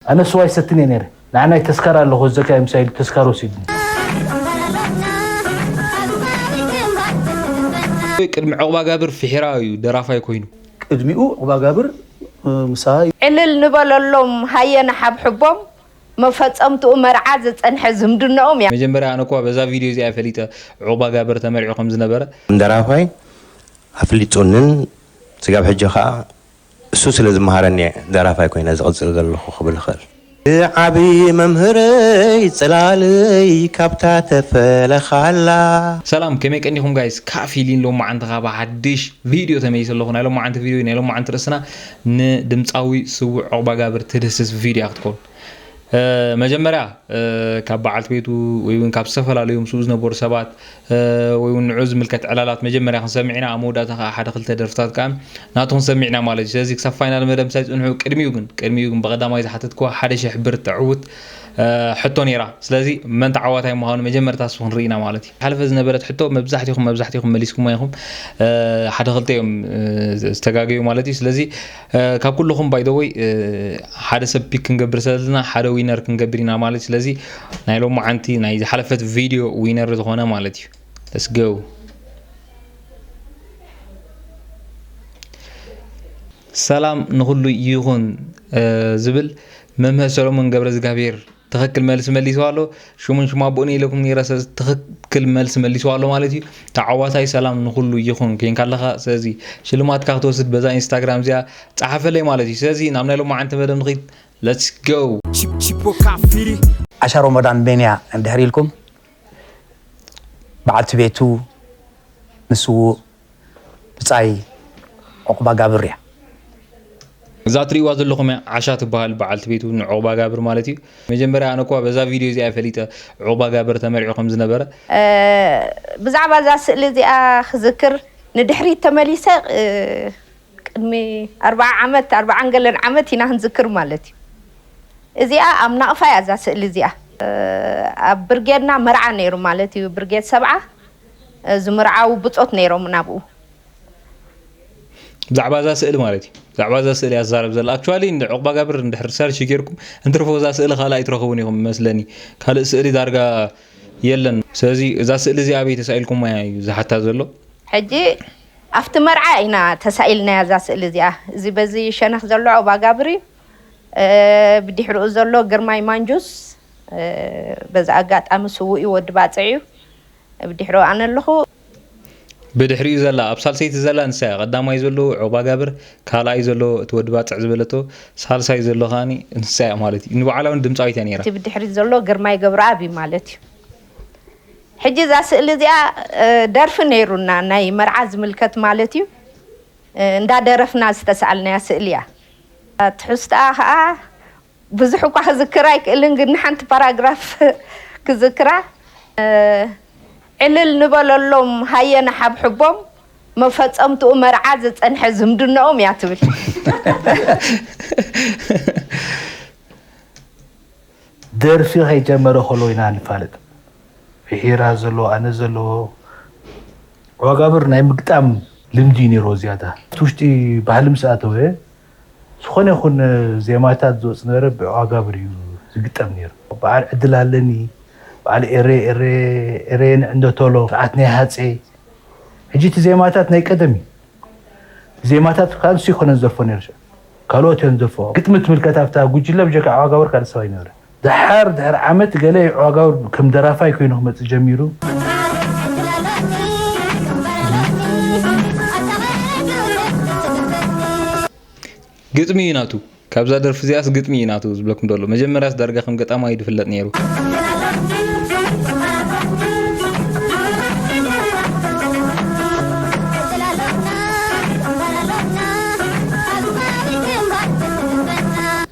ኣነ ስዋ ኣይሰትን እየ ነይረ ንዓናይ ተስካር ኣለኩ ኣዘካየ ምሳይ ኢሉ ተስካር ወሲድኒ። ቅድሚ ዑቕባጋብር ፊሒራ እዩ ደራፋይ ኮይኑ። ቅድሚኡ ዑቕባጋብር ምሳ። ዕልል ንበለሎም ሃየ ንሓብሕቦም መፈጸምትኡ መርዓ ዝጸንሐ ዝምድነኦም ያ። መጀመርያ ኣነ እኳ በዛ ቪድዮ እዚኣ እየ ፈሊጠ ዑቕባጋብር ተመርዕዩ ከምዝነበረ። ደራፋይ ኣፍሊጡንን ስጋብ ሕጂ ከኣ እሱ ስለ ዝመሃረኒ እየ ደራፋይ ኮይነ ዝቕጽል ዘለኹ ክብል እኽእል። ዝዓብይ መምህረይ ጽላለይ ካብታ ተፈለኻላ። ሰላም ከመይ ቀኒኹም ጋይስ ካእ ፊሊን ሎማዓንቲ ካኣ ብሓድሽ ቪድዮ ተመሊሰ ኣለኹ ናይ ሎማዓንቲ ቪድዮ ናይ ሎማዓንቲ ርእስና ንድምጻዊ ስውእ ዑቕባጋብር ትድህስስ ቪድዮ እያ ክትኮን መጀመርያ ካብ በዓልቲ ቤቱ ወይ ውን ካብ ዝተፈላለዩ ምስኡ ዝነበሩ ሰባት ወይ ውን ንዑ ዝምልከት ዕላላት መጀመርያ ክንሰምዕ ኢና ኣብ መወዳእታ ከዓ ሓደ ክልተ ደርፍታት ከዓ ናቱ ክንሰምዕ ኢና ማለት እዩ ስለዚ ክሳብ ፋይናል መደብ ምሳይ ፅንሑ ቅድሚኡ ግን ቅድሚኡ ግን ብቀዳማይ ዝሓተትክዋ ሓደ ሽሕ ብር ተዕውት ሕቶ ነይራ ስለዚ መን ተዓዋታይ ምዃኑ መጀመርታ ንሱ ክንርኢ ኢና ማለት እዩ ሓለፈ ዝነበረት ሕቶ መብዛሕትኹም መብዛሕትኹም መሊስኩማ ኢኹም ሓደ ክልተ እዮም ዝተጋገዩ ማለት እዩ ስለዚ ካብ ኩልኹም ባይ ዘ ወይ ሓደ ሰብ ፒክ ክንገብር ስለዘለና ሓደ ዊነር ክንገብር ኢና ማለት ስለዚ ናይ ሎማዓንቲ ናይ ዝሓለፈት ቪድዮ ዊነር ዝኾነ ማለት እዩ ለስ ጎ ሰላም ንኹሉ ይኹን ዝብል መምህር ሰሎሞን ገብረ እግዚኣብሔር ትክክል መልሲ መሊሱ ኣሎ ሽሙን ሽሙ ኣቦኡን ኢለኩም ነይረ ስለዚ ትክክል መልሲ መሊሱ ኣሎ ማለት እዩ ተዓዋታይ ሰላም ንኩሉ ይኹን ኮንካ ኣለኻ ስለዚ ሽልማትካ ክትወስድ በዛ ኢንስታግራም እዚኣ ጸሓፈለይ ማለት እዩ ስለዚ ናብ ናይ ሎማዓንቲ መደብ ንኺድ let's go ዓሻ ሮሞዳን መን እያ እንድሕር ኢልኩም በዓልቲ ቤቱ ንስዉእ ብጻይ ዑቕባጋብር እያ። እዛ ትሪእዋ ዘለኹም እያ ዓሻ ትበሃል በዓልቲ ቤቱ ንዑቕባጋብር ማለት እዩ። መጀመርያ ኣነ እኳ በዛ ቪድዮ እዚኣ እየ ፈሊጠ ዑቕባጋብር ተመርዕዩ ከም ዝነበረ። ብዛዕባ እዛ ስእሊ እዚኣ ክዝክር ንድሕሪት ተመሊሰ ቅድሚ ኣርብዓ ዓመት ኣርብዓን ገለን ዓመት ኢና ክንዝክር ማለት እዩ። እዚኣ ኣብ ናቕፋ እያ እዛ ስእሊ እዚኣ። ኣብ ብርጌድና መርዓ ነይሩ ማለት እዩ ብርጌድ ሰብዓ። ዝምርዓዉ ብጾት ነይሮም ናብኡ። ብዛዕባ እዛ ስእሊ ማለት እዩ ብዛዕባ እዛ ስእሊ ኣዛረብ ዘላ ኣክቹዋሊ ንዑቕባጋብር እንድሕር ሪሰርች ጌርኩም እንትርፎ እዛ ስእሊ ካልእ ኣይትረኽቡን ኢኹም መስለኒ ካልእ ስእሊ ዳርጋ የለን ስለዚ እዛ ስእሊ እዚ ኣበይ ተሳኢልኩማያ እዩ ዝሓታ ዘሎ ሕጂ ኣብቲ መርዓ ኢና ተሳኢልናያ እዛ ስእሊ እዚኣ እዚ በዚ ሸነኽ ዘሎ ዑቕባጋብር እዩ ብድሕሪኡ ዘሎ ግርማይ ማንጁስ በዚ ኣጋጣሚ ስዉእ እዩ ወዲ ባጽዕ እዩ እብ ድሕሩ ኣነ ኣሎኹ። ብድሕሪኡ ዘላ ኣብ ሳልሰይቲ ዘላ ንሳ እያ ቀዳማይ ዘሎ ዑቕባጋብር ካልኣይ ዘሎ እቲ ወዲ ባጽዕ ዝበለቶ ሳልሳይ ዘሎ ከኣ ንሳ እያ ማለት እዩ ንባዕላ ውን ድምጻዊት እያ ነይራ። እቲ ብድሕሪት ዘሎ ግርማይ ገብረኣብ እዩ ማለት እዩ። ሕጂ እዛ ስእሊ እዚኣ ደርፊ ነይሩና ናይ መርዓ ዝምልከት ማለት እዩ እንዳደረፍና ዝተሳኣልናያ ስእሊ እያ ትሑዝትኣ ከኣ ብዙሕ እኳ ክዝክር ኣይክእልን ግን ንሓንቲ ፓራግራፍ ክዝክራ ዕልል ንበለሎም ሃየ ንሓብሕቦም መፈፀምትኡ መርዓ ዝፀንሐ ዝምድነኦም እያ ትብል ደርፊ ከይጀመረ ከሎ ኢና ንፋለጥ ፍሒራ ዘለዎ ኣነ ዘለዎ ዋጋብር ናይ ምግጣም ልምዲ እዩ ነይሮ ዝያዳ እቲ ውሽጢ ባህሊ ምስ ኣተወ ዝኾነ ይኹን ዜማታት ዝወጽእ ዝነበረ ብዕዋጋብር እዩ ዝግጠም ነይሩ። በዓል ዕድል ኣለኒ፣ በዓል ኤሬ ኤሬ ኤሬ ንዕንዶ ቶሎ፣ ስርዓት ናይ ሃጼ። ሕጂ እቲ ዜማታት ናይ ቀደም እዩ። ዜማታት ከኣ ንሱ ኣይኮነን ዝደርፎ ነይሩ ሽዑ። ካልኦት እዮም ዝደርፍኦ። ግጥሚ ትምልከት ኣብታ ጉጅለ ብጀካ ዕዋጋብር ካልእ ሰብ ኣይነበረን። ደሓር ድሕሪ ዓመት ገለ ይዕዋጋው ከም ደራፋይ ኮይኑ ክመጽእ ጀሚሩ። ግጥሚ እዩ ናቱ ካብዛ ደርፊ እዚኣስ ግጥሚ እዩ ናቱ ዝብለኩም ደሎ መጀመርያስ ዳርጋ ከም ገጣማ እዩ ድፍለጥ ነይሩ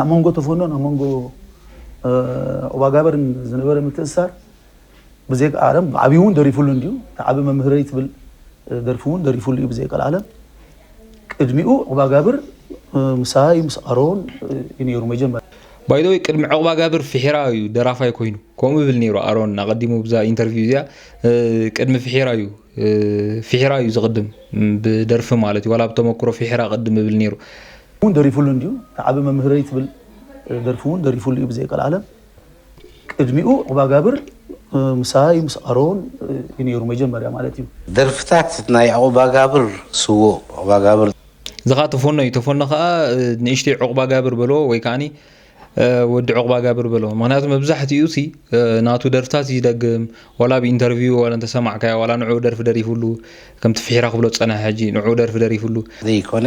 ኣብ መንጎ ተፈኖን ኣብ መንጎ ዑባጋበርን ዝነበረ ምትእስሳር ብዘይቀልዓለም ብዓብዪ እውን ደሪፉሉ እንድዩ እቲ ዓቢ መምህረይ ትብል ደርፊ እውን ደሪፉሉ እዩ ብዘይቀልዓለም ቅድሚኡ ዑባጋብር ምሳይ ምስ ኣሮን እዩ ነይሩ መጀመርያ ባይደወይ ቅድሚ ዕቕባ ጋብር ፍሒራ እዩ ደራፋይ ኮይኑ ከምኡ ይብል ነይሩ ኣሮን ኣቐዲሙ ብዛ ኢንተርቪው እዚኣ ቅድሚ ፍሒራ እዩ ፍሒራ እዩ ዝቕድም ብደርፊ ማለት እዩ ዋላ ብተመክሮ ፍሒራ ቅድም ይብል ነይሩ ውን ደሪፉሉ እንድዩ እታ ዓቢ መምህረይ ትብል ደርፊ ውን ደሪፉሉ እዩ ብዘይ ቀልዓለም ቅድሚኡ ዑቅባጋብር ምሳይ ምስ ኣሮን እዩ ነይሩ መጀመርያ ማለት እዩ። ደርፍታት ናይ ዑቅባጋብር ስዉእ ዑቅባጋብር። ዝኻ ተፎኖ እዩ ተፎኖ ከኣ ንእሽተይ ዑቅባጋብር በልዎ ወይ ከኣኒ ወዲ ዑቅባጋብር በልዎ ምኽንያቱ መብዛሕቲኡሲ ናቱ ደርፍታት እዩ ዝደግም ዋላ ኣብ ኢንተርቪው ዋላ እንተሰማዕካዮ ዋላ ንዕኡ ደርፊ ደሪፉሉ ከምቲ ፍሒራ ክብሎ ዝጸንሐ ሕጂ ንዕኡ ደርፊ ደሪፉሉ ዘይኮነ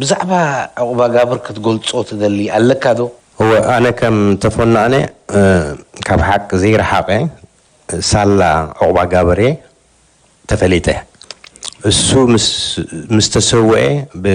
ብዛዕባ ዑቕባጋብር ክትገልጾ ትደሊ ኣለካ ዶ? እወ ኣነ ከም ተፎኖ ኣነ ካብ ሓቂ ዘይረሓቀ ሳላ ዑቕባጋብር እየ ተፈሊጠ እሱ ምስ ተሰወኤ ብ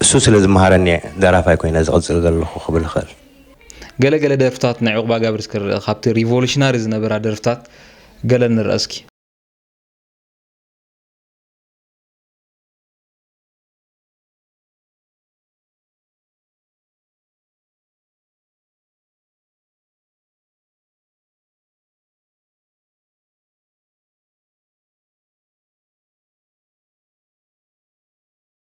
እሱ ስለ ዝመሃረኒ እየ ደራፋይ ኮይነ ዝቕጽል ዘለኹ ክብል እኽእል። ገለ ገለ ደርፍታት ናይ ዑቕባጋብር እስከ ንርእ፣ ካብቲ ሪቮሉሽናሪ ዝነበራ ደርፍታት ገለ ንርኣ እስኪ።